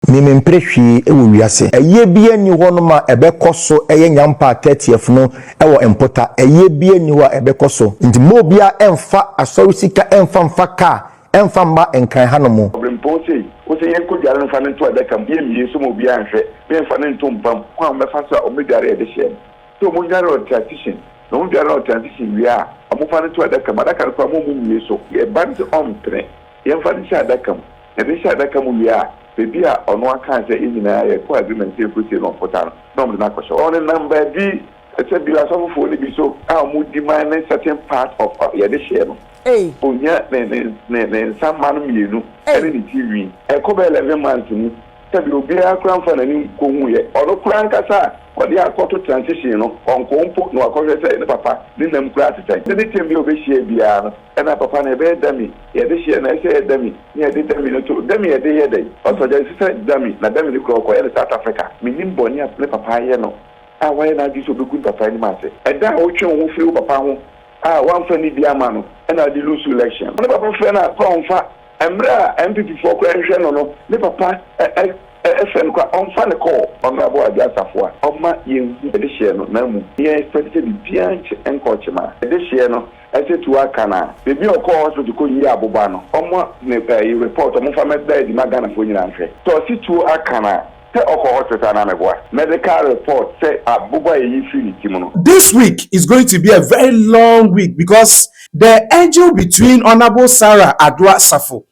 Me mempere hwee wɔ wiase. Ɛyɛ biaa nni hɔ nom a ɛbɛkɔ so yɛ Nyampa a thirtieth no wɔ mpota ɛyɛ biaa nni hɔ a ɛbɛkɔ so nti mma obiaa ɛmfa asɔre sika ɛmfa mfa car ɛmfa mma nkran ha nom. Ɔbrempɔn sei wo se yɛn kɔ dware mfa no nto adaka mu yɛn mie nso ma obiaa nhwɛ na yɛn mfa no nto mpa mu kwan a wɔn bɛfa so a wɔn bɛ dware ɛde hyɛɛ no sɛ wɔn dware on transition na wɔn dware on transition wie a wɔn fa no to adaka mu adaka no koraa mo a wɔn mie so yɛ ba no sɛ ɔmpene Yɛmfa no nhyɛ adaka mu. Yɛde no hyɛ adaka mu wie a, baabi a ɔno akaa sɛ yɛn nyinaa yɛkɔ agreement sɛ yɛkɔsie no mpota no, na wɔde no akɔhyɛ hɔ. Ɔnenam baabi, sɛ bi a asɔfofoɔ no bi so a wɔdi man ne certain part of a yɛde hyɛ no. Ɔnya ne, ne, ne, ne nsa mma no mmienu ne ne ti nwi. Ɛkɔ bɛyɛ eleven months mu, sɛ bi a obiara koraa mfa n'ani nkɔhuuɛ. Ɔno koraa ankasa a wɔde akɔto transition no, ɔnkɔɔ mpo na wakɔhwɛ sɛ ne papa ne nam koraa te sɛn. Anytime bi a ɔbɛhyiae biara no, Ɛna papa no ɛbɛyɛ dummy yɛde hyɛ na ɛsɛ yɛ dummy ne yɛde dummy no to dummy yɛde yɛ dɛn ɔsɔ gya ɛsesa dummy na dummy no kura ɔkɔ yɛ no south Africa menim bɔne a me papa ayɛ no a wayɛ n'adwene sɛ ɔbɛgu ne papa anim ase ɛda a wotwe wo ho firi wo papa ho a wamfa ne bi ama no ɛna wode loose election no ne papa frɛ no a kora ɔmfa ɛmmerɛ a NPP foɔ kora nhwɛ no no ne papa ɛ ɛ ɛfrɛ no kora ɔmfa no kɔɔ honourable Adwo Asafo a ɔma yɛnhu ɛdehyeɛ no na mmom yɛn expect sɛ biribiara nkyɛ nkɔ ɔkyema ɛdehyeɛ no Ɛsɛ tu aka no a bebi a ɔkɔɔ hospital kɔ yii aboba no ɔmɔ ne ɛyi report ɔmo nfa mɛ da adi ma Ghana foɔ nyinaa nhwɛ sɛ ɔse tuo aka no a sɛ ɔkɔ hospital anaa me boa medical report sɛ aboba a yɛyi firi ne ti mu no. This week is going to be a very long week because the angel between Honourable Sarah Adoa Safo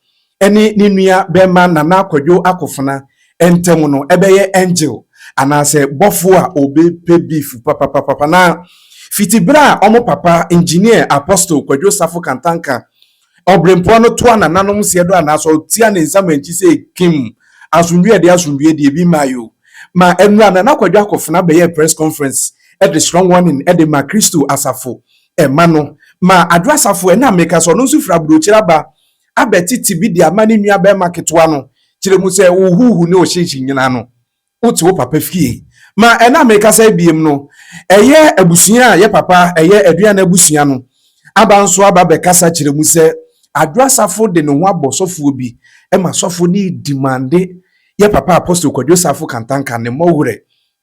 ne ne nua bɛma Nana Kwadwo Akofena ntam no ɛbɛyɛ angel anaasɛ bɔfo a obe pɛ beef papapapapa na fiti bere a ɔmo papa engineer Apostle Kwadwo Safo Kantanka Ɔbrempoɔ no toa nananom seɛ do anaasɛ ɔtia ne nsa mankyi sɛ kim asomdwie deɛ asomdwie deɛ bi mmae o ma ɛnura Nana Kwadwo Akofena bɛyɛɛ press conference de strong warning de ma Kristo Asafo ɛma no ma Adwo Asafo ɛna meka sɛ ɔno nso firi Aburokyire aba abɛte ti bi de ama ne nua barima ketewa no kyerɛ mu sɛ wo huuhu ne wo hyeehye nyinaa no, wote wo papa fie. Ma ɛnnɛ a merekasa yi biem no, ɛyɛ abusua a yɛ papa yɛ aduane abusua no aba nso aba bɛkasa kyerɛ mu sɛ Adwo Asafo de ne ho abɔ sɔfoɔ bi ma sɔfo no redi mande yɛ papa Apostle Kwadwo Sarfo Kantanka ne mmɔwerɛ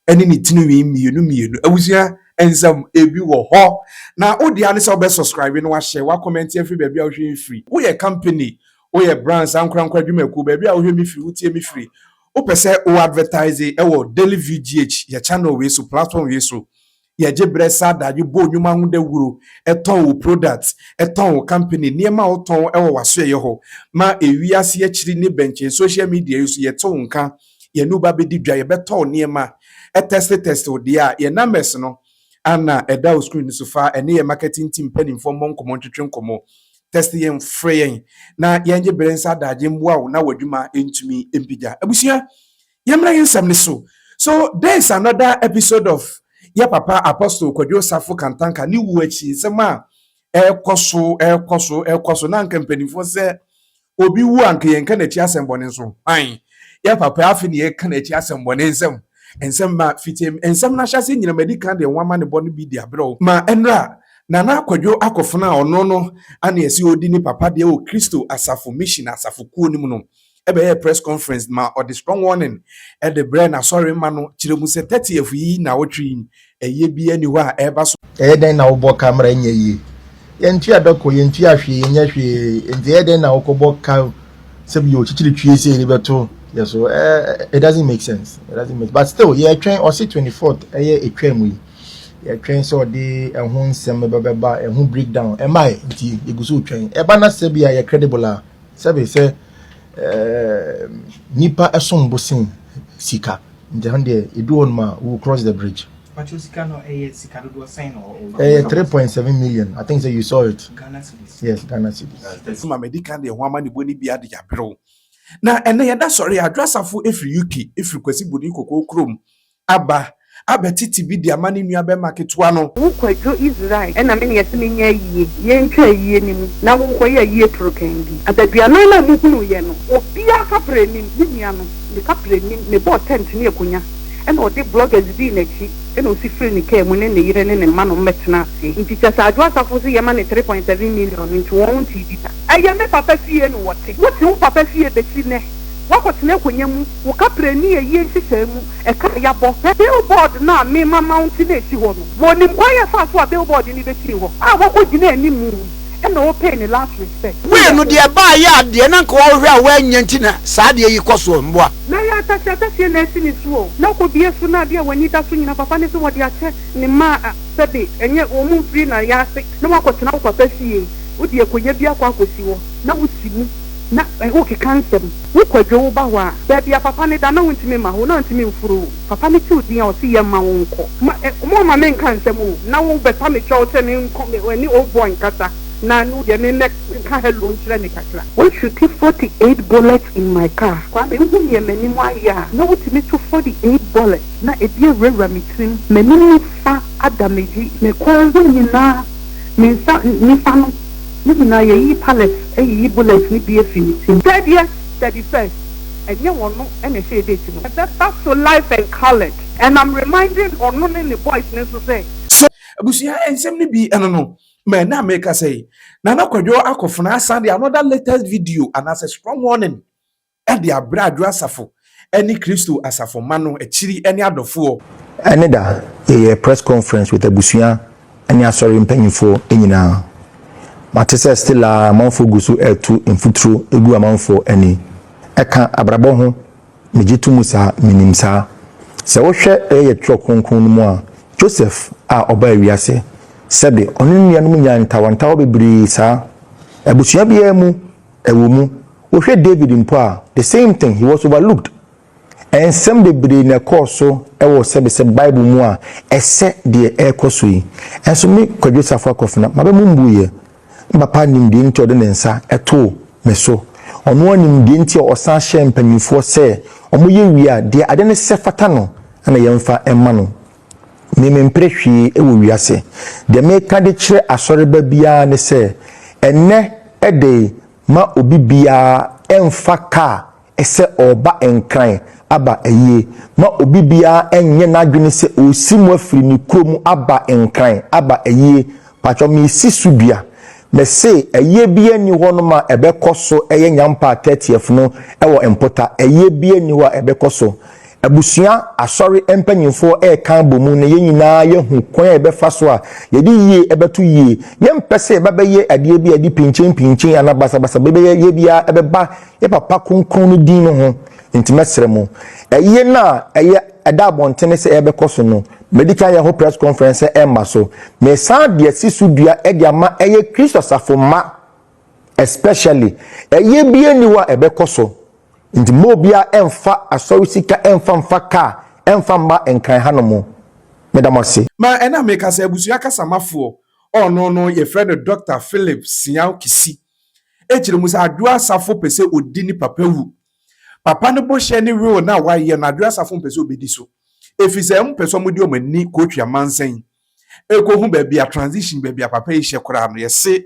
ɛne ne tinwi mmienu mmienu abusua nsam ebi wɔ hɔ na wodea ne sɛ wobɛ subscribe na wahyɛ wa comment afiri baabi a wohwɛ yɛ firi woyɛ company woyɛ brands ankorankora adwumakuo baabi a wohwɛ me firi wotie me firi wopɛ sɛ wo advertise ɛwɔ daily vgh yɛ channel wei so platform wei so Yɛgye berɛ sa adagyo bɔ nnwuma ho dawuro, tɔn wo product, tɔn wo company, nneɛma a wotɔn wɔ w'asoɛeɛ hɔ, ma ɛwie ase akyiri ne bɛnkyɛn social media yi so yɛte wo nka, yɛne wo ba bɛdi dwa, yɛbɛtɔ wo nneɛma, test test wo deɛ a, yɛn numbers no ara na ɛda wo screen no so, fa ɛne yɛn marketing team mpaninfoɔ mmɔ nkɔmmɔ ntwetwe nkɔmmɔ, test yɛn, frɛ yɛn na yɛngye berɛ nsa adagye mmoa wo na w'adwuma ntumi mpigya. Abusua, Yɛmmra yɛn nsɛm no so. So dɛn is another episode of yɛ papa Apostle Kwadwo Osafo Kantanka ne wuo akyi nsɛm a ɛrekɔ so, ɛrekɔ so, ɛrekɔ so na anka mpanimfoɔ sɛ obi wu a anka yɛnka n'akyi asɛmmɔne nso hwan? Yɛ papa afe na yɛka n'akyi asɛmmɔne nsɛm nsɛm ma fiti nsɛm no ahyɛase nyina madi kan deɛ ho amanebɔ no bi de abrɛ wo ma ɛnra Nana Kwadwo akɔfena a ɔno no ane ɛsɛ ɔdi ne papa deɛ wɔ Kristo asafo mission asafo kuo no mu no bɛyɛɛ press conference ma ɔde strong warning de brɛɛ n'asɔre mma no, kyerɛ mu sɛ thirtieth yi nnawɔtwe yi, ɛyɛ biara nni hɔ a ɛreba so. Ɛyɛ dɛn na wobɔ ka mmara nyɛ yie? Yɛntua da kɔ, yɛntua hwee, yɛnyɛ hwee, enti ɛyɛ dɛn na wokɔbɔ ka sɛ bi yɛ okyikyiri twie sɛ yɛde bɛto yɛ so? Eh, it doesn't make sense, it doesn't make but still yɛretwɛn ɔse 24th ɛyɛ etwa mu yi, yɛretwɛn sɛ ɔde ɛho nsɛm bɛba bɛba ɛho breakdown ɛmae nti yɛgu so retwɛn ɛba na sɛ bi a yɛ credible a sɛbe sɛ ɛɛ nipa ɛsom bo sen sika nti ɛno deɛ edu hɔ nom a we will cross the bridge. pàtó sika no ɛyɛ sika dodoɔ sɛn na ɔwɔ. ɛyɛ three point seven million i think say you saw it. ghana cedis. yes ghana cedis. ɛsɛ ma mɛ di kan deɛ ho ama ne bo ne bia de yaberew na ɛnɛ yɛda sɔre adwo asafo efiri uk efiri kwasi bodi kɔkɔɔ kurom Aba abɛ tete bi de ama ne nua bɛma ketewa no. Wo kwadwo Israel ɛna me ne ɛse me nyɛ ayie yɛ ntwa ayie no mu na wo nkɔ yɛ ayie toro kɛn bi adaduanan na mo hunu yɛ no obia kapre nim me nua no ne kapre nim me bɔɔ tent ne akonya ɛna ɔde bloggers dii nakyi ɛna osi firi ne car mu ne ne yere ne ne mma nom bɛ tena ase nti kyɛsɛ adwo asafo se yɛ ma ne three point seven million nti wɔn ntii bi da ɛyɛ me papa fie no wɔte wo te wo papa fie besi nɛ. Woakɔtena akonnwa mu, wo kaprɛ nni ayie nhyehyɛe mu, ɛka a yɛabɔ, hwɛ billboard no a mema mounte na ɛsi hɔ no. Ma ɔnim kwan a ɛfaa so a billboard no bɛsii hɔ a woakɔgyina anim yi ɛna wopay ne last respect. Wei no deɛ ɛbaa yɛ a deɛ na nka wɔhwehwɛ a wɔannya nti na saa adeɛ yi kɔ soɔ, mmoa. Mɛyɛ ataseɛ ataseɛ na asi ne so o, na kɔbue so na adeɛ a w'ani da so nyina papa ne sɛ wɔde akyɛ ne mma a sɛbe ɛnyɛ wɔn mfiri na yɛ ase na woakɔtena wo papa fie, wode akonnwa bi akɔ akɔsi hɔ na wosi mu. na wokeka nsɛm, wo kwadwo wo ba hɔ a, baabi a papa no da na wontumi mma hɔ, na ɔntumi mforo wo, papa no tew din a ɔse yɛmma wo nkɔ, ma wɔmma me nka nsɛm o, na wo bɛpa me kyɛw sɛ me nkɔ me ne old boy nkasa na wo deɛ me mmɛ nka hello nkyerɛ no kakra. Wo shuti forty eight bullets in my car, Kwame wohu neɛ m'anim ayɛ a, na wotumi to forty eight bullets na ɛbi awurawura me tirim, m'anim nifa ada m'adwi, me kɔn ho nyinaa, me nsa nifa no. No nyinaa yɛyi pallet ɛyiyi bullet no bi ɛfiri ne tirim. Dɛbiɛ dɛbi first ɛnyɛ ɔno ɛna ɛhyɛɛ date no. Ɛbɛba so life and coloured. And am reminding ɔno ne ne boys no nso sɛ. So abusua nsɛm no bi ɛno no ma ɛnɛ a mekasa yi Nana Kwadwo Akofena asan de another latest video anaasɛ strong warning. Ɛde abrɛ adwo asafo ne Kristo asafo mma no akyiri ne adɔfoɔ. Ɛne da yɛyɛɛ press conference with abusua ne asɔre mpanyinfoɔ nyinaa. Mate sɛ still ara amanfoɔ gu so reto mfuturo gu amanfoɔ ani. Ɛka abrabɔ ho, megye to mu saa, menim saa. Sɛ wohwɛ yɛyɛ twerɛ kronkron no mu a, Joseph a ɔbaa wiase, sɛbe ɔne ne nuanom nyaa ntawantawa bebree saa. Abusua biara mu. Ɛwɔ mu, wohwɛ David mpo a, the same thing, he was overlooked. Nsɛm bebree na ɛkɔɔ so wɔ sɛbesɛbe Bible mu a ɛsɛ deɛ ɛrekɔ so yi. Nso me, Kwadwo Safo Akofena, m'aba mu mmuiɛ. Me papa nim deɛ nti a ɔde ne nsa too me so. Ɔno ara nim deɛ nti a ɔsan hyɛɛ mpanimfoɔ sɛ wɔyɛ wie a, deɛ ade no sɛ fata no na yɛmfa mma no. Me mempere hwee wɔ wiase. Deɛ meka de kyerɛ asɔreba biara ne sɛ, ɛnnɛ de ma obi biara mfa kaa sɛ ɔreba Nkran aba ayie. Ma obi biara nyɛ n'adwene sɛ ɔresi mu afiri ne kurom aba Nkran aba ayie. Pakyɛ mesi so dua. Mese, ɛyɛ biaa nni hɔ nom a ɛbɛkɔ so yɛ Nyampaa thirtieth no wɔ mpota, ɛyɛ biaa nni hɔ a ɛbɛkɔ so. Abusua, Asɔre mpanyimfoɔ reka abɔ mu no yɛn nyinaa yɛahu kwan a yɛbɛfa so a yɛde yie bɛto yie. Yɛmpɛ sɛ yɛba bɛyɛ adeɛ bi a yɛde pinkyenpinkyen anaa basabasa bɛyɛ biaa bɛba yɛ Papa Kronkron no din no ho. Nti mɛsrɛ mo, ɛyɛ no a ɛyɛ ɛda abɔntene sɛ ɛbɛkɔ so no, Madi kan yɛ ho press conference sɛ ɛmma so. Mesan de asi so dua de ama ɛyɛ Kristo asafo mma especially. Ɛyɛ bi nni hɔ a ɛbɛkɔ so. Nti mma obiara ɛmfa asɔre sika ɛmfa mfa car ɛmfa mma Nkran hanom. Meda mo ase. Ma ɛna mekasa abusua kasamafoɔ ɔɔno no yɛfrɛ no Doctor Philip Siaw Kisi ɛkyerɛ mu sɛ Adwoa Asafo pɛ sɛ ɔdi ne papa wu Papa no bɔhyɛ ne will no a wayɛ no Adwoa Asafo mpɛ sɛ ɔbɛdi so ɛfiri sɛ wɔn pɛ sɛ wɔn de wɔn ani kɔtwi amansan yi ɛkɔhu baabi a transition baabi a papa yi hyɛ koraa no yɛse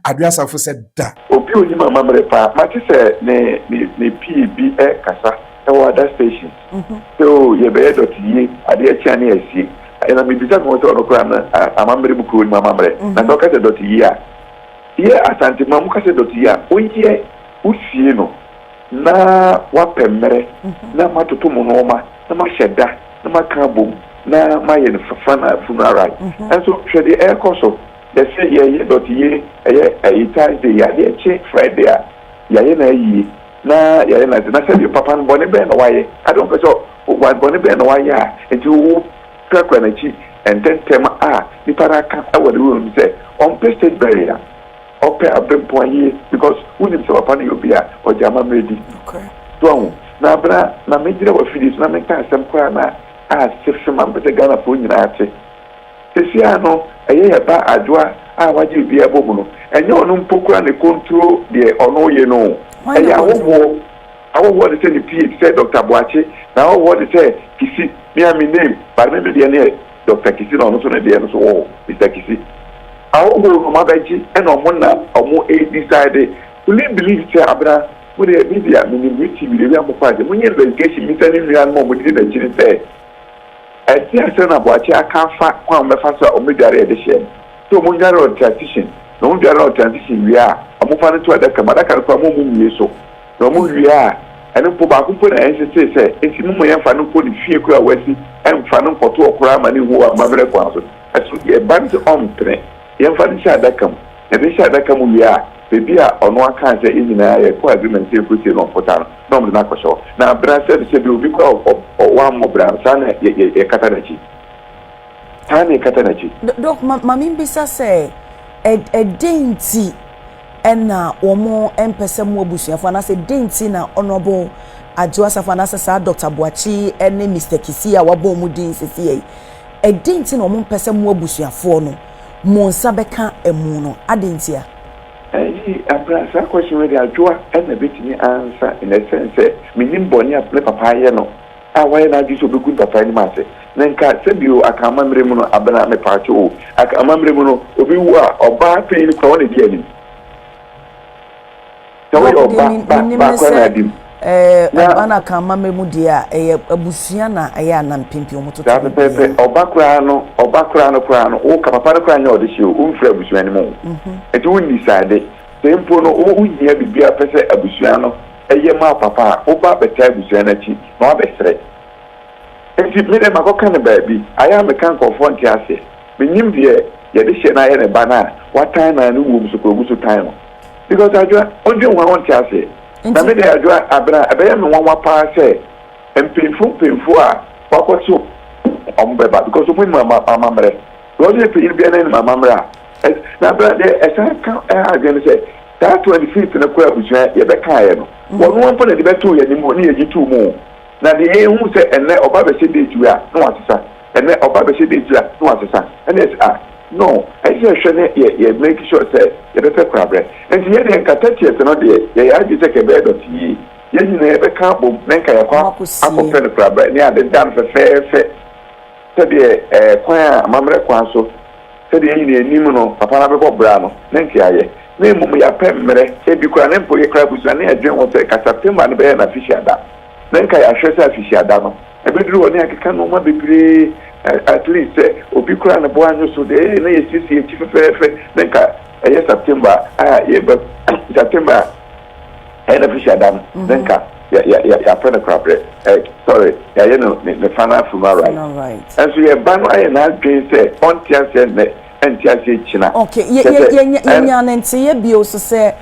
Adwoa Asafo sɛ da Obi onim amamerɛ paa. Mate sɛ ne ne ne pie bi ɛkasa ɛwɔ ada station sɛ oo yɛbɛyɛ dɔte yie adeɛ kye a ne yɛasie ɛɛ na mebisa me ho sɛ ɔno koraa no a amamerɛ mu koraa onim amamerɛ na sɛ ɔka sɛ dɔte yie a yɛ Asante ma ɔmo ka sɛ dɔte yie a ɔnyi yɛn Wosie no na woapɛ mmerɛ na moatoto mo nnoɔma na moahyɛ da na moaka abom na moayɛ no fafa na afunu aran. Nanso hwɛ deɛ ɛrekɔ so, yɛse yɛyɛ dɔteyie ɛyɛ ɛyi Thursday yi a adeɛ kye Friday a yɛayɛ no ayie na yɛayɛ no ade na sɛdeɛ papa no bɔne bɛn na woayɛ ade wompɛ sɛ wa bɔne bɛn na woayɛ a nti wo kurakura n'akyi ntɛntɛm a nipa no aka wɔ ne wura no mu sɛ ɔmpɛ state burial. Ɔpɛ abempɔn yie because wonim sɛ papa no yɛ obi a ɔgye amammerɛ di. So wahu? Na bere a na megyina w'afidie so na menka asɛm koraa no a ase fe ma mepɛ sɛ Ghanafoɔ nyinaa te. Seesei ara no ɛyɛ yɛn ba Adwoa a wagye obiara abɔ mu no, ɛnyɛ ɔno mpo koraa na ɛkɔnturo deɛ ɔno reyɛ no o. Ɛyɛ ahɔhoɔ. Ahɔhoɔ ne sɛ ne PA te sɛ Doctor Boakye na ahɔhoɔ ne sɛ Kisi, me a me name but me me deɛ ne yɛ. Doctor Kisi na ɔno nso ne deɛ no so wɔ hɔ, Mister Kisi. Ahohoo no mabɛgye ɛna ɔmo na ɔmo ɛɛdisayde. Meme believe sɛ Abena, mo deɛ me deɛ menim me ti me deɛ wia mo paase. Monyɛ investigation mmisa ne nua nom a ɔmo didi n'akyi no sɛ, ɛdeɛn asɛm na Boakye aka afa kwan a ɔmo bɛfa so a ɔmo bɛdware ɛde hyɛ no. Sɛ ɔmo nnware ɔtransition, na ɔmo dware ɔtransition wie a, ɔmo mfa no nto adaka mu. Adaka no koraa mo a ɔmo nwie so. Na wɔwie a, ɛno mpo, baako mpo na ɛnsesee sɛ esi, Mommɔ yɛmfa no nkɔ ne fie koro a wasi, ɛmfa no nkɔto ɔkora mma no nhu wɔ amammerɛ kwan so. Ɛsono deɛ ɛba no sɛ ɔmpene, yɛmfa no nhyɛ adaka mu. Na yɛde no hyɛɛ adaka mu wie a, baabi a ɔno ara kaa sɛ yɛn nyinaa yɛkɔɔ agreement sɛ yɛkɔsie no wɔ mpota no, na wɔde no akɔhyɛ hɔ. Na bra sɛ no, sɛ bi obi kɔ a, ɔ, wammɔ bra no, saa na yɛ, yɛ, yɛkata n'akyi. Saa na yɛkata n'akyi. Dok, ma, ma membisa sɛ, ɛ, ɛdɛn nti na wɔmpɛ sɛ mo abusuafo anaasɛ dɛn nti na Honourable Adjo Asafo anaasɛ saa Doctor Boakye yi ne Mister Kissi a wɔabɔ wɔn din seesei yi, dɛn nti na wɔmpɛ sɛ mo abusuafoɔ no mo nsa bɛka amu no? Adɛn ntia? Ayi abra saa question wei deɛ adwoa na bɛtumi ansa in a sense sɛ mennim bɔne a me papa ayɛ no a wayɛ n'adwene sɛ ɔbɛgu mpapae no mu ase, na nka sɛ bio aka amammerɛ mu no, Abena, mepaakyɛw o, aka amammerɛ mu no, obi wu a, ɔbaa panyin koraa, ɔno na edi anim. Sɛ woyɛ Baako deɛ ɔba, me- ba, menim ba ne koraa sɛ na adi mu. ɛɛ, Na- ɔba no aka amammerɛ mu deɛ a, ɛyɛ abusua na ɛyɛ a na mpempem wɔtoto Saa biribiara. pɛpɛɛpɛ, ɔba koraa no, ɔba koraa no koraa no, woka papa no koraa nyɛ ɔde hye o, womfiri abusua no mu o. Nti wonni srade. Sɛ mpo no, wo, wohia biribiara pɛ sɛ abusua no Eye maa papa a wo ba bɛtaa abusua no akyi na wabɛsrɛ. Enti me deɛ makɔka no baabi. Ayɛ a meka nkurɔfoɔ nte aseɛ. Mennim deɛ yɛde hyɛ no ayɛ ne ba no a watan no a ne wuom so koraa ɔgu so tan no. Because Adwoa, wondwen ho a wonte aseɛ. Na me deɛ Adwoa, Abena, ɛbɛyɛ me nwanwa pa ara sɛ mpanyinfoɔ mpanyinfoɔ a wɔakɔto wɔn bɛba because wɔn nim amammerɛ. Because woyɛ panyin biara na wonim amammerɛ a Na bra deɛ ɛsan ka ɛha adwene no sɛ saa twenty fifth no koraa abusua yɛbɛkaeɛ no wɔn ara mpo na de bɛtoo yɛn anim o ne yɛgye too mu o na deɛ yɛhu sɛ ɛnnɛ ɔba bɛhyɛ date wei a na wasesa ɛnnɛ ɔba bɛhyɛ date wei a na wasesa ɛne ɛsɛ a no ɛsɛ sɛ ɛhwɛ ne yɛ yɛ make sure sɛ yɛbɛpɛ korabrɛ nti yɛ deɛ nka thirtieth no deɛ yɛyɛ adwene sɛ ka ɛbɛyɛ dɔte yie yɛn nyinaa yɛbɛka abom na nka yɛakɔ akɔpɛ no korabrɛ ne adeda no fɛfɛɛfɛ sɛdeɛ ɛɛ kwan a amammerɛ kwan so. Sɛdeɛ yɛn nyinaa nim no, papa no abɛbɔ bra no, ne nteaeɛ, na mmom yɛapɛ mmerɛ, ebi koraa ne mpo yɛkra abusua ne yɛdwen ho sɛ ka September no bɛyɛ n'afehyia da. Na nka yɛahwɛ sɛ afehyia da no bɛduru hɔ ne yɛakeka nnoɔma bebree, at least sɛ obi koraa ne bo annwo so deɛ ɛyɛ na yɛasiesie akyi fɛfɛɛfɛ na nka ɛyɛ September a yɛbɛ September a. Ɛyɛ na firi adam ne nka ya ya ya yapɛ no kora brɛ eh sorry yayɛ no ne ne fa no afiri mu alright ɛnso yɛ ba no ayɛ n'adwen sɛ ɔnte aseɛ nnɛ ɛnte aseɛ kyina ok yɛ kyɛ yɛ sɛ yɛ yɛ ɛn nya ne nteyɛ bio nso sɛ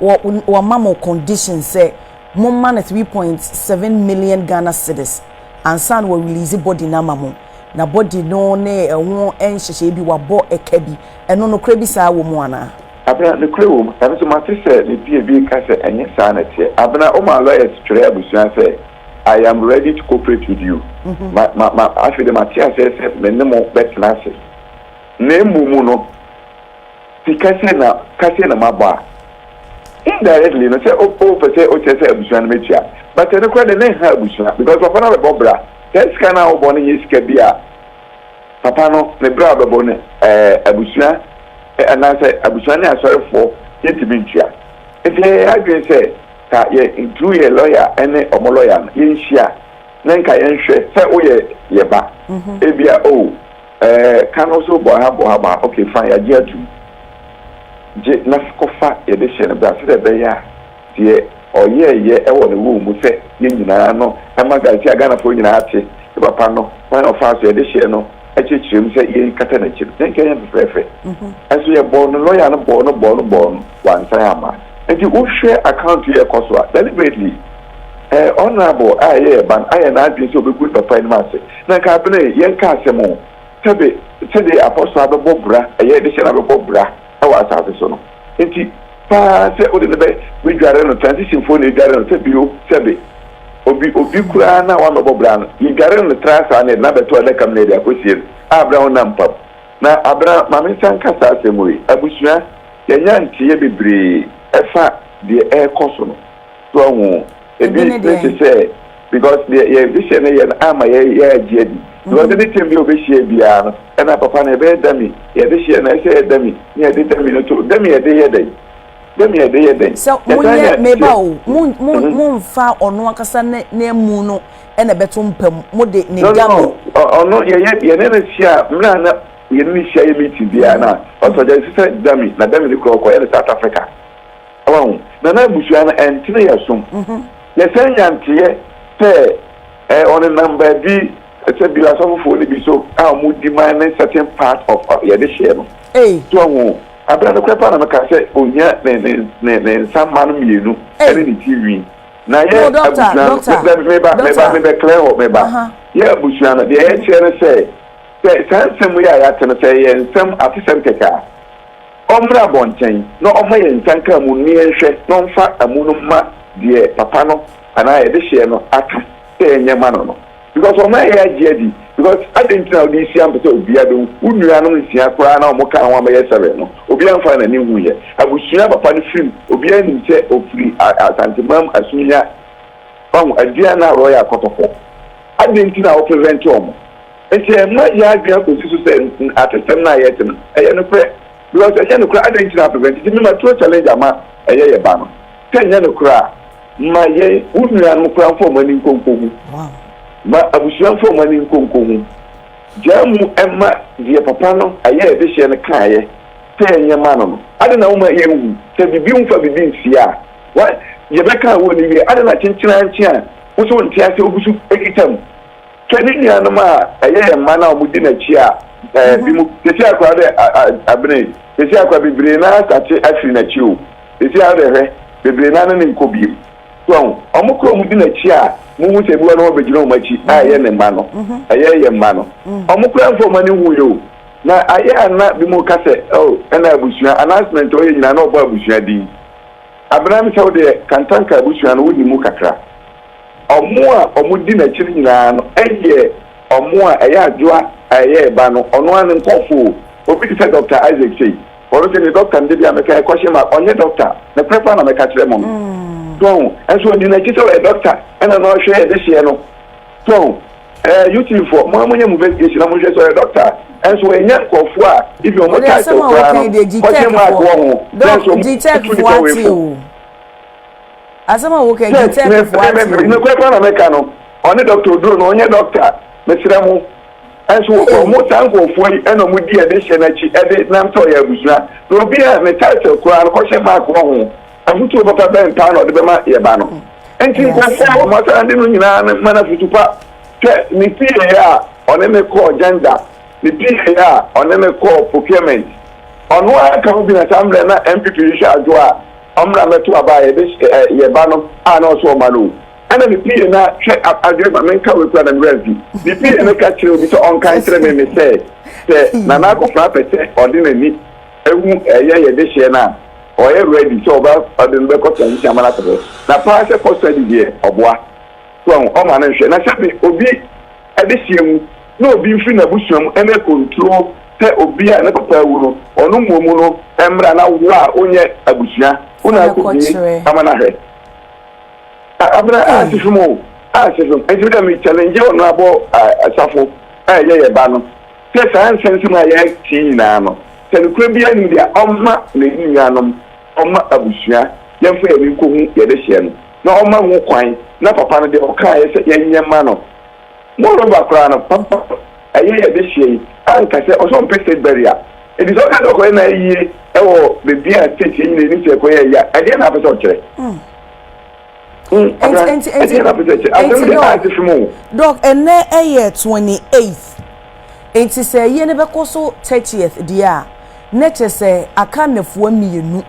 wɔ wɔ ma mo condition sɛ mo ma no three point seven million Ghana cedis ansa na wɔ release body no ama mo na body no ne ɛho nhyehyɛɛ bi wabɔ ɛka bi ɛno nokorɛ bi saa wɔ mu anaa. Abena, Nokorɛ wɔ mu. Nanso mate sɛ me pie bi reka sɛ ɛnyɛ saa na ɛteɛ. Abena, Womaa lawyers twerɛɛ abusua sɛ I am ready to cooperate with you. Ma, ma, ma, afei deɛ mate aseɛ sɛ me ne mo bɛtena ase. Na mmom no, sika sei na, ka sei na mabɔ a, indirectly no, sɛ wo, wopɛ sɛ wokyerɛ sɛ abusua no mɛtua. But ɛno koraa deɛ na ɛnha abusua because papa no abɛbɔ bra. Saa sika no a wobɔ no nyɛ sika bi a. Papa no ne bere a ɔbɛbɔ no ɛ, abusua anaasɛ abusua ne asɔrefoɔ yɛntumi ntua. Enti yɛyɛ yɛn adwene sɛ ka yɛ through yɛ lɔya ne wɔn lɔya no yɛnhyia na nka yɛnhwɛ sɛ woyɛ yɛ ba ebia oh ɛ ka no so bɔ ha bɔ ha bɔ ha ok fine yɛagye atum gye na kɔfa yɛde hyɛ no bra sɛdeɛ ɛbɛyɛ a Deɛ ɔyɛɛyɛ wɔ ne woo mu sɛ yɛn nyinaa no ɛma Garcia Ghanafoɔ nyinaa te ne papa no kwan a ɔfaa so yɛde hyɛɛ no akyerɛkyerɛ mu sɛ yɛn kata n'akyi no yɛn nka yɛn fɛfɛɛfɛ nso yɛ bɔɔ no lɔya no bɔɔ no bɔɔ no bɔɔ no wansan amma nti wo hwɛ account yi a ɛkɔ so a deliberately eh honourable a ɛyɛ yɛ ba no ayɛ n'adwene sɛ ɔbɛgu ne papa anim ase na nka abena yi yɛn ka asɛm o sɛbe sɛde apɔso abɛbɔ bra ɛyɛ de hyɛ no abɛbɔ bra wɔ asase so no nti paa sɛ wode no bɛ bɛdware no transition foɔ na ɛdware no sɛ bio sɛ be obi obi koraa no a woamɛbɔ bra no yɛdware no tra saa na yɛde no abɛto adaka mu na yɛde akɔsie no a bra wo nam pam na abra ma me nsa nka saa asɛm wei abusua yɛanya nteeɛ bebree ɛfa deɛ ɛrekɔ so no so ahu Ebi ne deɛn? Ebi ne te sɛ because deɛ yɛ vision no yɛ no ama yɛ yɛ agye adi. Because ɛde tɛm bi a obehyia biara no ɛna papa no ɛbɛyɛ dummy yɛde hyɛ no ɛsɛ yɛ dummy ne yɛde dummy no to dummy yɛde yɛ dɛn dummy yɛde yɛ dɛn. Sɛ mo nyɛ meba o mo mo mo nfa ɔno ankasa ne ne mu no ɛna ɛbɛto mpa mu mo de ne dummy. No no ɔno yɛ yɛ yɛ ne no hyia mmerɛ a na yɛ ne no hyia yɛ meeting biara na ɔsɔ gya sisɛ dummy na dummy no kura ɔkɔ yɛ no South Africa. Wahu? Na na abusua no ɛntene yɛ som. Yɛsan nya nteɛ sɛ ɛɛ ɔnenam baabi sɛ bi asɔfofoɔ no bi so a wɔn di man ne certain part of yɛde hyɛ no. So wahu? Abena nokorɛ paa na meka sɛ ɔnya ne ne ne ne nsa mma no mmienu ɛne ne ti nwi. Na yɛ abusua no mɛ meba meba mebɛ clear hɔ meba yɛ abusua no deɛ yɛkyerɛ no sɛ sɛ saa nsɛm yi a yɛate no sɛ ɛyɛ nsɛm atesɛm kɛkɛ a. Ɔmmra abɔnten na ɔmma yɛn nsa nka amu no na yɛnhwɛ na ɔmfa amu no mma deɛ papa no anaa yɛde hyeɛ no aka sɛ yɛnyɛ mma no no because ɔmma yɛn agye adi because adɛn nti na wode resia mpɛ sɛ obiara bɛhu wo nuanom nsia koraa na wɔn kaa ho a bɛyɛ seven no obiara mfaa n'ani nhuiɛ abusua a papa no firi mu obiara nim sɛ ɔfiri Asantemanm Asumnya wahu Aduana Royal Kɔtɔkɔ adɛn nti na wo prevent wɔn. Enti ɛmma yɛn adwene kɔsi so sɛ atesɛm no a yɛte no ɛyɛ nokorɛ because ɛnyɛ nokorɛ adɛn nti na prevent nti mema tuo challenge ama ɛyɛ yɛ ba no sɛ ɛnyɛ nokorɛ a ma yɛn wo nua nom koraa mfa ɔmo ani nkɔ nkɔ hu ma abusua mfa ɔmo ani nkɔ nkɔ hu gyaa mu ɛmma deɛ papa no ɛyɛ ɛdehyeɛ no kaeɛ sɛ ɛnyɛ ma no no adɛn na woma yɛn hu sɛ bibi mfa bibi nsie a wa yɛbɛka a wɔ ni wie adɛn na kyenkyenankye a wo sɛ wo nte aseɛ wo guso kita mu Hwɛ ne nuanom a ɛyɛ yɛn mma no a wɔdi n'akyi a ɛɛ bi mu sisi akora dɛ abene sisi akora bebree naa sate afiri n'akyi o sisi ara dɛ hwɛ bebree naa ne ne nkɔ bi mu so wɔn koro wɔn di n'akyi a mo hu sɛ bi wɔn wɔbɛgyina wɔn akyi a ɛyɛ ne mma no ɛyɛ yɛn mma no wɔn kora nfa wɔn ani hu yɛ o na ayɛ ana bi mu ka sɛ ɛo ɛna abusua announcement ɔyɛ nyinaa na ɔbɔ abusua din abena mi sɛ wo deɛ kantanka abusua no wo ni mu kakra. Wɔn a wɔdi n'akyi no nyinaa no yɛ wɔn a ɛyɛ adwoa a ɛyɛ ɛba no, ɔno ara ne nkurɔfo o. Obi te sɛ Dɔkta Isaac sei, ɔno sɛ ne dɔkta no da biara meka yɛ question mark, ɔnyɛ dɔkta, nokorɛ paa na mɛka kyerɛ mo no. So ahu? Nso ɔdi n'akyi sɛ ɔyɛ dɔkta ɛna na ɔhwɛ yɛn dehyeɛ no. So ahu? Ɛɛ YouTube foɔ, mo ara monyɛ mo investigation na monhwɛ sɛ ɔyɛ dɔkta a. Nso ɛnyɛ nkurɔfoɔ a even wɔn title koraa no, question mark wɔ ho, na nso wɔtu nipa wei fo. Asɛm a woka yi, Sɛ, me, Turkeyfoɔ me, ate me, o. nokorɛ paa na meka no, ɔne Doctor Oduro no, ɔnyɛ Doctor, mesrɛ mo. Nso wo, Ei. wɔn, saa nkorɔfoɔ yi na wɔn di ɛde hyɛ no akyi de nam sɛ ɔyɛ abusua. Na obi a ne title koraa no, kɔhyɛ mark wɔ ho. Afotuo papa bɛn paa na ɔde bɛma yɛn ba no? Nti Ɛyɛ nkorɔfoɔ a asɛm. wɔn asan de no nyinaa no ma no afotu pa. Hwɛ, ne pieeɛ a ɔne me kɔɔ gender, ne pieeɛ a ɔne me kɔɔ procurement, ɔno ara ka ho bi na saa mmerɛ na NPP rehwɛ adwoɔ a, Ɔmmra mmɛto aba a yɛde hyɛ yɛn ba no a na ɔsɛ ɔma no o. Ɛnna ne pii no ahwɛ adwene ma menka wei koraa na me werɛ afi. Ne pii no ka kyerɛ obi sɛ ɔnka nkyerɛ me me sɛ sɛ Nana Akofena pɛ sɛ ɔde n'ani hu ɛyɛ yɛ dehyeɛ no a, ɔyɛ ready sɛ ɔba ɔde no bɛkɔ transition ama no akɔ hɔ. Na paa sɛ custody deɛ ɔboa. So ahu, ɔma no nhwɛ. Na sɛbe obi Adesua mu, na obi mfiri n'abusua mu mmɛ konturo sɛ obi a ne papa awu no, ɔno mmom no mmra na wo a wonyɛ abusua wo na akɔbue ama no ahwɛ. A Abena, ansi fam o, ansi fam. Nti me deɛ me challenge Honourable Asafo a ɛyɛ yɛn ba no sɛ saa nsɛnsɛm a yɛte yi nyinaa no, sɛ nokorɛ biara nni mu deɛ a, ɔmma n'aninuanom, ɔmma abusua, yɛmfa yɛn ani nkɔhu yɛn dehyeɛ no. na ɔma ho kwan na papa no de ɔkaeɛ sɛ yɛnyɛ mma no. Moreover koraa no, papa no ɛyɛ yɛ adehyeɛ yi anka sɛ ɔsɛ ɔmpɛ state burial. Enti sɛ ɔka sɛ ɔkɔyɛ n'ayie wɔ baabi a state yɛ nyina ɛnim sɛ ɛkɔyɛ ayie a, ɛdeɛn na apɛ sɛ ɔkyerɛ? Hmm, Abena, ɛdeɛn na apɛ sɛ ɛkyerɛ? Asɛm deɛ ante fem o. Dɔk, ɛnnɛ ɛyɛ 28th, enti sɛ ayie no bɛkɔ so 30th deɛ a, na kyerɛ sɛ aka nnafua mmienu.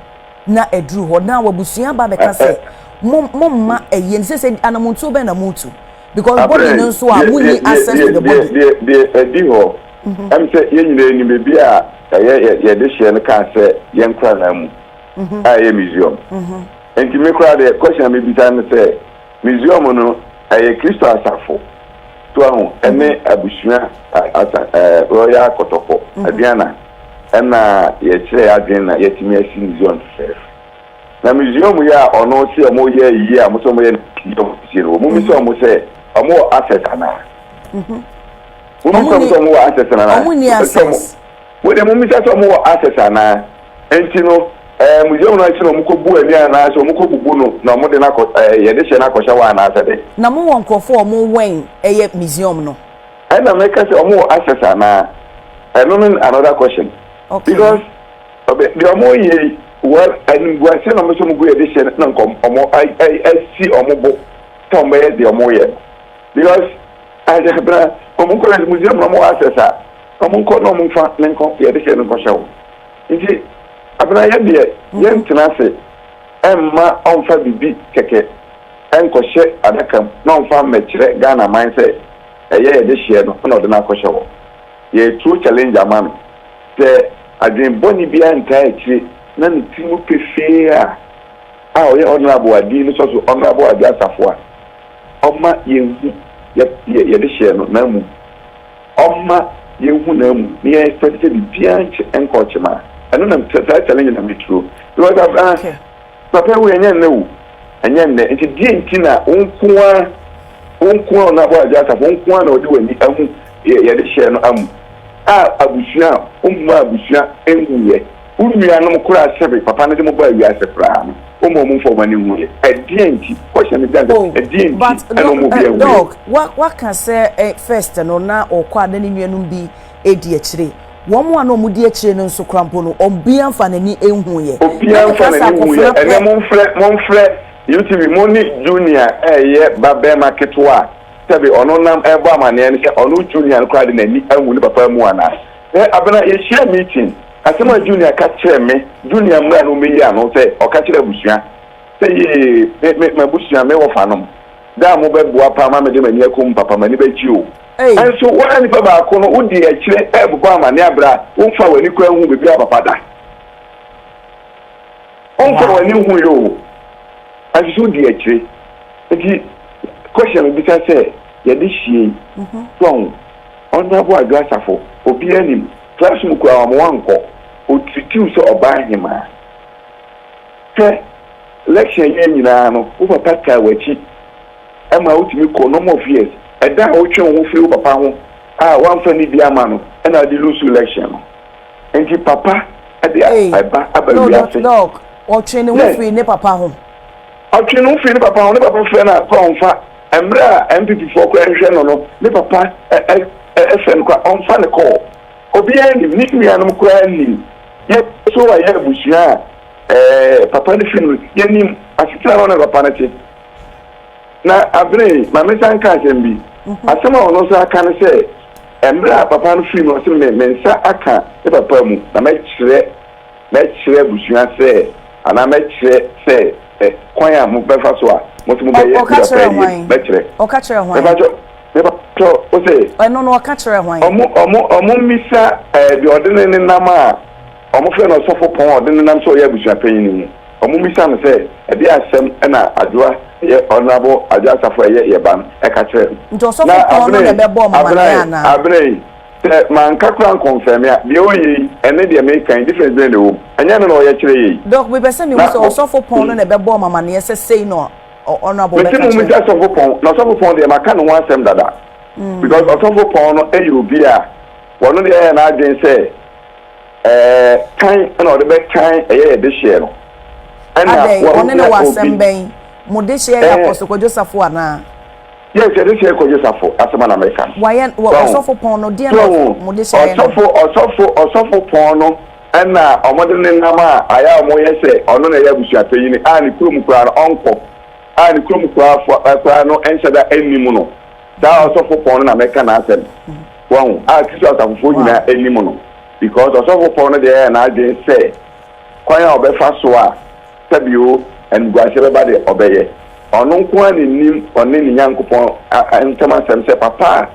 na aduru hɔ na wabusua ba bɛka sɛ mo mo mma ɛyɛ ne sɛ sɛ anamontuo bɛn na motu because body no nso a munyi access to the body. deɛ deɛ ɛdi hɔ mhm. ɛm sɛ yɛn nyinaa ni baabi a ɛyɛ yɛde hyɛ no kaa sɛ yɛn koraa mu mhm. a ɛyɛ museum mhm. nti me koraa deɛ question a mebisa no sɛ museum no ɛyɛ kristo asafo So wahu? Ɛne abusua asa ɛɛ royal kɔtɔkɔ. Aduana ɛna yɛkyerɛ yɛ adwene na yɛatumi asi museum fɛfɛɛfɛ. Na museum yi a ɔno se ɔmo yɛ ayie a ɔmo se ɔmo yɛ no ɔmo sie no ɔmo bisa ɔmo sɛ ɔmo wɔ access anaa? Mo bisa ɔmo sɛ ɔmo wɔ access anaa? Ɔmo nni access. Wo de mummisa sɛ wɔwɔ access anaa. Enti no, eh, museum no akyi na wɔkɔbu ani anaasɛ wɔkɔbubu no na wɔde no akɔ, eh, yɛde hyɛ no akɔhyɛ hɔ anaasɛ dɛn? Na mowɔ nkurɔfo a wɔwɛn ɛyɛ museum no? Ɛnna meka sɛ, Wɔwɔ access anaa? Ɛno no ne another question. Okay. Because, ɔbɛ, deɛ wɔreyɛ yi, well, animguaseɛ na wɔn nso wɔgu yɛde hyɛ no na nka wɔn, wɔn a, a, asi wɔn bo sɛ wɔbɛyɛ deɛ wɔreyɛ no. Because, ahwɛ, bena, wɔn kɔ museum na wɔwɔ access a, Ɔmo nkɔ na ɔmo nfa ne nkɔ yɛ de hyɛ no nkɔhyɛ wo nti abena yɛ deɛ yɛ ntena ase ɛmma ɔnfa bibi kɛkɛ ɛnkɔhyɛ adaka mu na ɔnfa mmɛkyerɛ Ghana man sɛ ɛyɛ yɛ de hyeɛ no ɛna ɔde no akɔhyɛ hɔ yɛ tuo challenge ama no sɛ adwen bɔne biara ntaa akyire na ne tiri mu pefee a a ɔyɛ honourable a din no sɔ so honourable Adwo Asafo a ɔma yɛ hu yɛ yɛ de hyeɛ no na mmom Ɔma yɛn honam mu ne yɛn sɛ sɛ biribiara nkyɛ nkɔ ɔkyem a ɛno na mepɛ saa challenge na me turo because I've ah papa wei ɛnyɛ nnɛ o ɛnyɛ nnɛ nti deɛ nti na wo nko ara wo nko ara ɔnabɔ agya asafo wo nko ara na ɔde w'ani ahu yɛde hyɛ no amu a abusua a ɔmma abusua nwuyɛ. Wo nuanom koraa sɛbe papa no de mo baa wiase koraa no ɔmaa ɔmo mfa ɔmo ani nhueɛ ɛdeɛn nti question no gyina sɛ ɛdeɛn nti ɛna ɔmo obiaa nhueɛ. Doc waka sɛ first no na ɔkɔ a na ne nuanom bi ɛdi akyire wɔn a na ɔmo di akyire no nso koraa mpo no ɔbiaa nfa n'ani nhueɛ obiaa nfa n'ani nhueɛ ɛnɛ monfrɛ monfrɛ UTV mo ne Junior ɛyɛ ba bɛɛma ketewa a sɛbe ɔno nam ɛbɔ amaneɛ no sɛ ɔno Junior no koraa de n'ani ahu ne papa amu anaa. Sɛ aber no a yehyiaa meeting, asɛm a Junia ka kyerɛɛ me, Junia mbra na omeyi ano sɛ ɔka kyerɛ abusua sɛ yie, me, me, m'abusua, me wɔfanom, dɛ a mobɛboa paa ma mede m'ani akɔ mu papa, m'ani bɛgye o. Naaso woara nyimpa baako no, wodzi akyire robobɔ amanee aber a wonnfaa w'ani koraa nnhuu biribiara papa da. Wonnfaa w'ani nnhui o, naaso so wodzi akyire. Ntsi, question a mibisa sɛ, yɛdze hyia yi, so ahu? Ɔnnyabo Adwo Asafo, obiara nim. Class mu koraa ɔma wankɔ. Ɔtreati wo sɛ ɔbaa hemaa. Hwɛ, election awieɛ nyinaa no, wo papa taa w'akyi maa wotumi kɔɔ number of years. Ɛda a wotwee wo ho firii wo papa ho a woamfa anidie amma no na wode loose election no. Nti papa de ɛba aba wiase. Yes. Ɔtwee ne ho firii ne papa ho. Ne papa frɛ no a, sɛ ɔmfa. Mmerɛ a NPP foɔ kɔ ɛhwɛ no no ne papa ɛfɛ no koraa ɔmfa no kɔɔ obiara nim ne nuanom koraa nnim yɛ so wayɛ abusua a papa no firi mu no yɛnim asetena no na papa no te na abene ma me san ka asɛm bi asɛm a ɔno nso aka no sɛ mmerɛ a papa no firi mu ɔse me nsa aka ne papa mu na mɛkyerɛ Mɛkyerɛ abusua sɛ, anaa mɛkyerɛ sɛ, ɛ, kwan a mobɛfa so a mo nso mobɛyɛ Ɔ, ɔka Yudafoɔ kyerɛɛ adeɛ no, hwan? mɛkyerɛ. Ɔka kyerɛɛ hwan? Mepakyɛ, mepakyɛ wo sɛ, Ɛno no, ɔka kyerɛɛ hwan? Ɔmo, ɔmo, ɔmo mmisa, ɛ, deɛ ɔde ne nenam a ɔmo frɛ no ɔsɔfopɔn a ɔde nenam sɛ ɔyɛ abusuapanyin no mu. Ɔmo mmisa no sɛ, Ɛdeɛn asɛm na Adwoa, ɛyɛ Honourable Adwoa Asafo a ɛyɛ yɛn ba no, ɛka kyerɛɛ no? Nti Na ɔsɔfopɔn no na Abena yi, ɛbɛbɔɔ mo Abena amaneɛ yi, anaa? Abena yi, Sɛ manka koraa ankɔnfɛme a, deɛ ɔreyɛ yi, ɛne deɛ meka yi, difference bɛn na ɛwɔ mu? Ɛnyɛ ɛno na ɔyɛ kyerɛ yɛn yi? Doc, mepɛ sɛ mehu sɛ Ɔsɔfo Pɔn no na ɛbɛbɔɔ mo amaneɛ sɛ sei na Honourable bɛka kyerɛ no? Mese mommisa Ɔsɔfo Pɔn, na Ɔsɔfo Pɔn deɛ maka ne ho asɛm dada. Because Ɔsɔfo Pɔn no yɛ obi a ɔno deɛ ayɛ n'adwene sɛ tan na ɔde bɛtan ɛyɛ yɛn dehyeɛ no. Adɛn, ɔne no wɔ asɛm bɛn? Mo dehyeɛ yɛ Apostle Kwadwo Safo anaa? Yes yɛde hyɛ kɔgye safo asɛm a na meka no Wayɛ wɔ so ahu ɔsɔfo pɔn no deɛ so na ahu wɔn de hyɛɛ no. ɔsɔfo ɔsɔfo ɔsɔfo pɔn no ɛna wɔn de ne nam a ayɛ a wɔn yɛ sɛ ɔno na ɛyɛ abusua panyini a ne kurom koraa no ɔnkɔ a ne kurom koraa fo ɛ koraa no nhyɛda ɛnnim no saa ɔsɔfo pɔn no na mɛka n'asɛm so ahu a Kristo asafofoɔ Wow. nyinaa ɛnnim no because ɔsɔfo pɔn no deɛ ɛyɛ n'adwene sɛ kwan a ɔbɛfa so a sɛ bio animguaseɛ bɛba deɛ, ɔbɛyɛ. Ɔno nko ara na ɛnim ɔne ne Nyankopɔn ntam asɛm sɛ papa a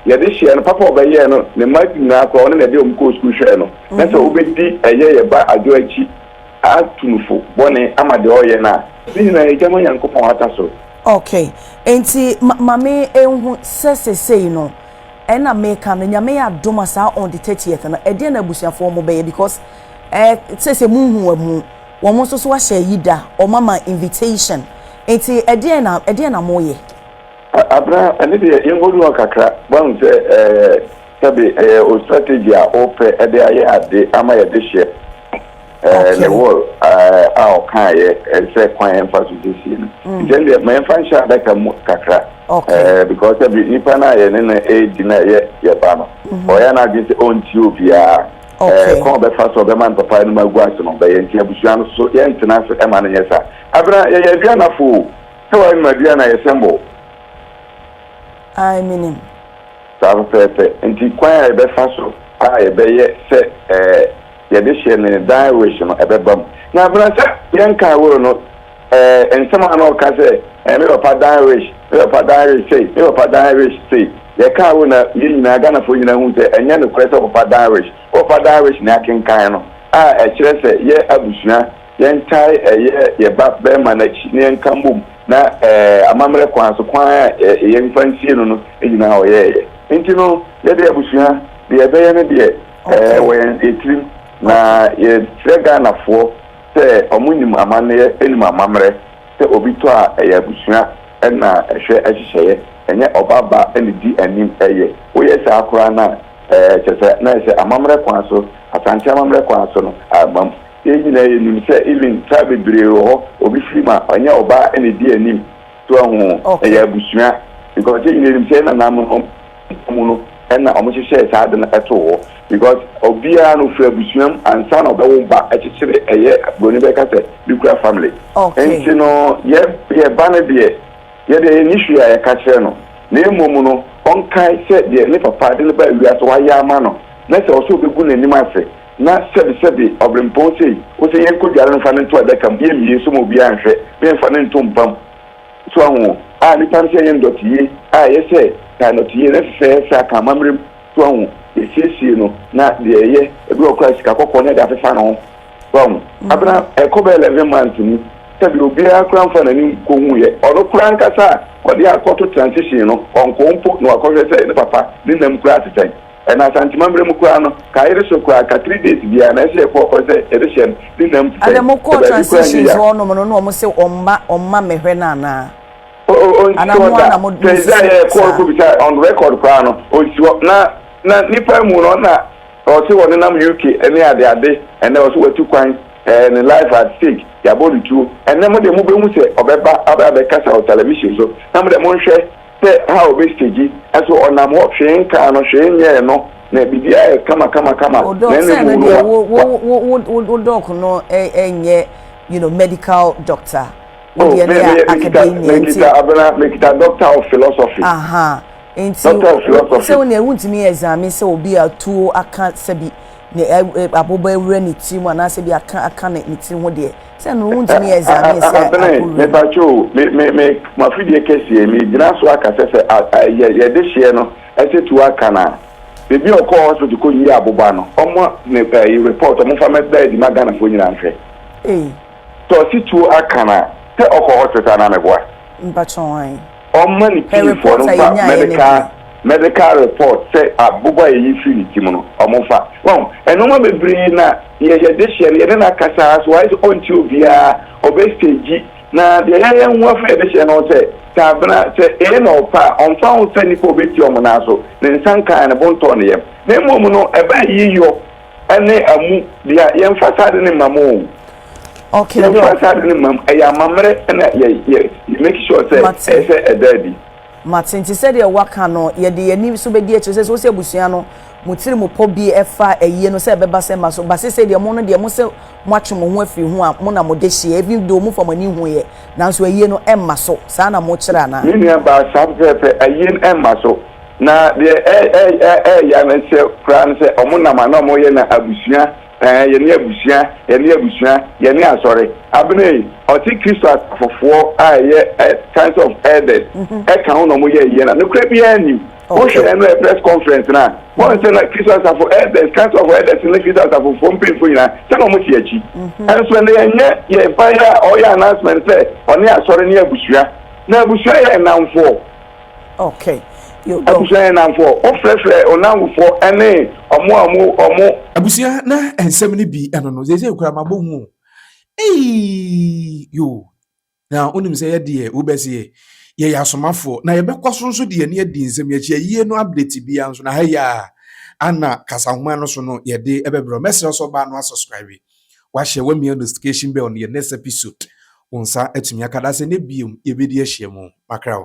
yɛde hyɛɛ no, papa a ɔbɛyɛɛ no, ne mma nyinaa koraa ɔne na ɛde wɔn kɔɔ sukuu hwɛɛ no, na sɛ wobɛdi ɛyɛ yɛ ba Adwo akyi atu no fo bɔne ama deɛ ɔreyɛ no a, ne nyinaa ɛgya ma Nyankopɔn ahata so. Ok, enti ma me nhu sɛ sesei no, ɛna meka no, Nyame yɛ adom a saa on the thirtieth no, ɛdeɛn na abusuafoɔ wɔbɛyɛ because eh, sɛ sɛ monhu wɔn mu. Wɔn nso so ahyɛ ayi da, wɔn ama invitation. Nti ɛdeɛn na ɛdeɛn na mo yɛ? Abena, ɛno deɛ yɛn nkɔdu hɔ kakra, wahu sɛ ɛɛ sɛbe ɛyɛ o strategy a ɔpɛ ɛde ayɛ ade ama yɛde hyɛ ɛɛ ne wall ɛɛ a ɔkaeɛ sɛ kwan yɛn fa so siesie no. Nti ɛno deɛ ma yɛn fa nhyɛ adaka mu kakra ɛɛ because sɛbe nipa no a yɛne no ɛɛdi na ɛyɛ yɛba no, ɔyɛ n'adwene sɛ ɔntie obiara. Okay. Ɛɛ, kwan a ɔbɛfa so a ɔbɛma no papaayɛ no mu agu ase no bɛyɛ nti abusua no so yɛntena ase mma no nyɛ saa. Abena, yɛyɛ aduanafo o, sɛ woanom aduan a ɛyɛ sɛn bɔ wo? Ae, menim. Saa pɛpɛɛpɛ. Nti kwan a yɛbɛfa so a yɛbɛyɛ sɛ ɛɛ yɛde hyɛ ne dan wish no ɛbɛba mu. Na Abena, sɛ yɛnkaa will no, Ɛɛ, nsɛm a na ɔka sɛ, Ɛɛ, me papa dan rich, me papa dan rich sei, me papa dan rich sei. Yɛkaa wei na yɛn nyinaa, Ghanafoɔ nyinaa hui sɛ ɛnyɛ nokorɛ sɛ wo papa dan rich. Wo papa dan rich na yɛakenkan no, a ɛkyerɛ sɛ yɛ abusua, yɛntae ɛyɛ yɛ ba barima no akyi na yɛnka mmom na ɛɛ amammerɛ kwan so, kwan a ɛɛ yɛmfa nsie no no nyinaa ɔyɛeɛ. Nti no, yɛ deɛ abusua, deɛ yɛbɛyɛ no deɛ ɛɛ wɔ yɛn tirim na yɛkyerɛ Ghanafoɔ. sɛ ɔmo nim amanneɛ nim amamerɛ sɛ obi tɔ a ɛyɛ abusua na ɛhwɛ ɛhyehyɛeɛ ɛnyɛ ɔba ba na ɛdi anim ɛyɛ woyɛ saa koraa no a ɛɛ kyerɛ sɛ na ɛsɛ amamerɛ kwan so asante amamerɛ kwan so no amam yɛn nyinaa yɛ nim sɛ even car bebree wɔ hɔ obi firi mu a ɛnyɛ ɔbaa na ɛdi anim so ahu ɛyɛ abusua because yɛn nyinaa nim sɛ yɛn nananom Ɛda mu no na wɔhyehyɛɛ saa ade no too hɔ because obiara no firi abusua mu ansa na ɔbɛwo ba ɛkyekyere ɛyɛ broni bɛka sɛ nuclear family nti no yɛ yɛ ba no deɛ yɛ deɛ yɛnni hwee a yɛka kyerɛ no na mmom no ɔnkae sɛ deɛ ne papa de no baa wiase wayɛ ama no na sɛ ɔsɛ ɔbɛgu n'anim ase na sɛbi sɛbi ɔbrempɔn sei wosɛ yɛnkɔ dware no mfa no nto adaka mu yɛmmie so ma obiara nhwɛ me mfa no nto mpa mu So ahu a nnipa no sɛ ɛyɛ ndɔteyɛ a ɛyɛ sɛ taa ndɔteyɛ na ɛsesɛ sɛ aka amammerɛ mu? So ahu yɛsiesie no na deɛ ɛyɛ ɛberɛ wɔ koraa sika kɔkɔɔ na ɛde afefa ne ho? So ahu abena ɛkɔ bɛyɛ eleven months mu sɛdeɛ obiara koraa mfa n'anim kɔhuuiɛ ɔno koraa ankasa a ɔde akɔto transition no ɔnkɔɔ mpo na wakɔhwɛ sɛ ne papa ne nam koraa te sɛn? Na Asante mammerɛ mu koraa no, ka yere so koraa ka three days biara na ɛsɛ yɛkɔ ɔkɔ sɛ yɛde hyɛ no ne nam ti sɛn sɛ baabi koraa nyɛ ya. Ɛna mo kɔɔ transitions hɔ nom no na ɔmo se ɔmma ɔmma mɛhwɛ no anaa? Anaa mo ara na mo mo sisi saa? Ɔnsi hɔ da, sɛ yɛkɔɔ kɔ bisa on record koraa no ɔnsi hɔ na na nipa mu no ɔna ɔse ɔne nam UK ɛne ade ade ɛnɛ ɔse watu kwan ɛɛ ne life at stake yabɔ no tuo ɛnɛ mo deɛ mo bɛhu sɛ ɔbɛba abɛ abɛkasa wɔ television so na mo deɛ monhwɛ Sɛ ha obesegi ɛso ɔnam hɔ hwee nkaa no hwee nyɛɛ no na biribiara yɛ kama kama kama na ɛna mu no wa wa. Wo dɔɔk no ɛnyɛ you know medical doctor wo deɛ no yɛ academia nti. Mekita abena mekita doctor of philosophy. Ahaa nti wo sɛ wo neɛ wontumi examine sɛ obi a tuo aka sɛbi ne aboba awura ne tiri mu anaasɛ bi aka aka ne tiri ho deɛ. sɛ no wontumi yɛ dza ne sɛ abene mepakyɛ o me me me mo afidie kɛseɛ me gyina so aka sɛ sɛ yɛ yɛde hyeɛ no ɛsɛ tu aka no a bebi a ɔkɔɔ hospital kɔ yie aboba no ɔmo ne ɛyi report ɔmo fa mɛda adi ma ghanafoɔ nyinaa nhwɛ sɛ ɔsi tuo aka no a sɛ ɔkɔ hospital na meboa mpakyɛ wɔn Ɔmma ne Hwɛ tirimfoɔ report no a mfa yɛnyaeɛ no medical bio. medical report sɛ abobo a yɛyi firi ne tirim no ɔmo mfa. Wahu? Nnoɔma bebree na yɛ yɛde hyɛ no yɛne no akasa ara so wayɛ sɛ ɔnte obiara ɔbɛ stagyi na deɛ yɛayɛ ho afei a yɛde hyɛ no sɛ sɛ abena sɛ ee na ɔpɛ a ɔmfa ho sɛ nnipa a ɔbɛtie ɔmo nan so ne nsa nkaa ne bo ntɔɔ ne yam na mmom no ɛbɛ ayiyɔ Ɛne amu dea yɛn fa saa ade no mma mo o okay bro yɛn fa saa ade no mma mo ɛyɛ amammerɛ ɛna yɛ yɛ yɛ make sure sɛ ɛyɛ sɛ ɛda adi. Mate nti sɛdeɛ waka no yɛde yɛn ani so bɛdi akyire sɛsɛ wosɛ abusua no mo tiri mo pɔ bi ɛfa ayie no sɛ ɛbɛba sɛ mma so ba sɛsɛ deɛ mo no deɛ mo sɛ mo atwe mo ho afiri ho a mo na mo de hyeɛ even though mo fa mo ani hu yɛ nanso ayie no ɛmma so saa na mo kyerɛ anaa. Me nua baa saa pɛpɛɛpɛ ayie no ɛmma so. Na deɛ ɛɛya no sɛ koraa no sɛ ɔmo nam a na ɔmo yɛ no abusua ɛɛ yɛne abusua yɛne abusua yɛne asɔre Abena ei ɔse kristo asafofoɔ a ɛyɛ ɛ science of elders ɛka ho na ɔmo yɛ yɛ no a nokorɛ biaa nnim wohwɛ ɛno ɛ press conference no a wɔn sɛ na kristo asafo elders science of elders ne kristo asafofoɔ mpanyinfoɔ nyinaa sɛ na ɔmo te akyi ɛnso ɛnɛ yɛnyɛ yɛ ban a ɔyɛ announcement sɛ ɔne asɔre ne abusua na abusua yɛ nnamfoɔ Okay. You go. Abusua yɛ nnamfoɔ. Wofrɛfrɛ wo nnamfofoɔ ne wɔn a wɔn wɔn. Abusua na nsɛm no bi ɛno no seesei koraa mabɔ hu o eii yoo na wonim sɛ yɛdeɛ wobɛseɛ yɛyɛ asomafoɔ na yɛbɛkɔ so nso de yɛne adi nsɛm yɛakyi ayie no update biara nso na ha yi a ana kasahoma no so no yɛde ɛbɛbrɛ mɛsrɛ sɛ ɔbaa no asubscribe Wahyɛ wamia nostication bɛl no yɛ next episod wo nsa atumi aka dasɛ nɛ biom yɛbɛdi ahyia mu makra o.